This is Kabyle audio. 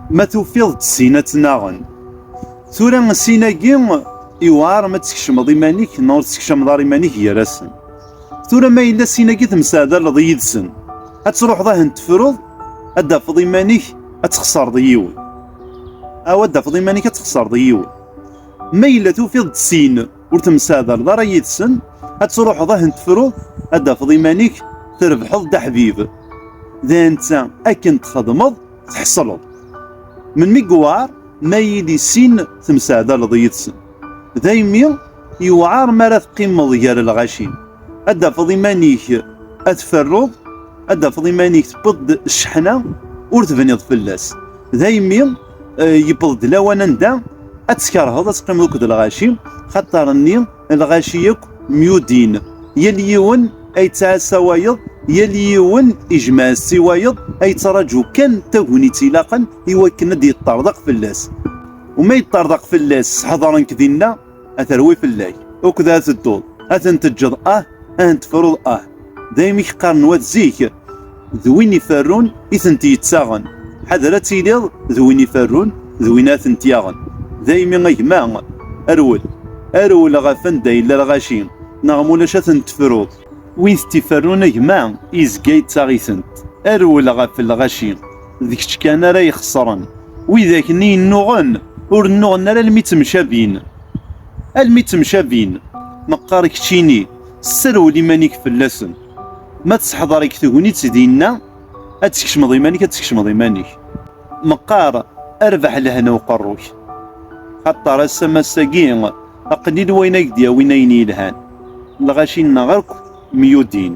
Ma tufiḍ-d sin ad tt-naɣen. Tura sin-agi iwɛer ma teskecmeḍ iman-ik neɣ ur teskecmeḍ ara iman-ik gar-asen. Tura ma yella sin-agi temseɛdaleḍ yid-sen, ad truḥeḍ ahen tefruḍ, ad d-tafeḍ iman-ik ad txeṣreḍ yiwen. Aw ad d-tafeḍ iman-ik ad txeṣreḍ yiwen. Ma yella tufiḍ-d sin ur temseɛdaleḍ ara yid-sen, ad truḥeḍ ahen tefruḍ, ad d-tafeḍ iman-ik trebḥeḍ-d aḥbib. D netta akken txedmeḍ. tḥeṣleḍ. Melmi yewɛer ma iyi-d issin temseɛdaleḍ yid-sen. Daymi yewɛer mi ara teqqimeḍ gar lɣaci, ad d-tafeḍ iman-ik ad tferruḍ, ad d-tafeḍ iman-ik tewweḍ-d cceḥna ur tebniḍ fell-as. Daymi yewweḍ-d lawan anda ad tkerheḍ ad teqqimeḍ akked lɣaci, xaṭer nni, Lɣaci akk myudin, yal yiwen a yettɛassa wayeḍ, yal yiwen ijmeɛ-as-tt i wayeḍ, a yettraǧu kan tagnit ilaqen i wakken ad yeṭṭerḍeq fell-as. U ma yeṭṭerḍeq fell-as s ḥedren-k dinna, a terwi fell-ak, uked a tedduḍ, a ten-teǧǧeḍ ah, a ntefruḍ ah. Daymi i k-qqaren wat zik, d win iferrun i tent-yettaɣen. Ḥader ad tiliḍ d win iferrun d win ara tent-yaɣen. Daymi a gma, rwel, rwel ɣef anda yella lɣaci, neɣ ma ulac ad ten-tefruḍ. Win t-iferrun a gma, yezga yettaɣ-itent. Rwel ɣef lɣaci, d kečč kan ara ixeṣren. Widak-nni yennuɣen, ur nnuɣen ara almi ttemcabin. Almi ttemcabin, neqqar keččini. Sserwel iman-ik fell-asen. Ma tesseḥḍer-ik tegnit dinna, ad teskecmeḍ iman-ik, ad teskecmeḍ iman-ik. Meqqar, arbaḥ lehna uqerru-k. Xaṭer ass-a mass-agi, aqlil wayen ay ak-d-yawin ayen yelhan. Lɣaci-nneɣ akk myudin.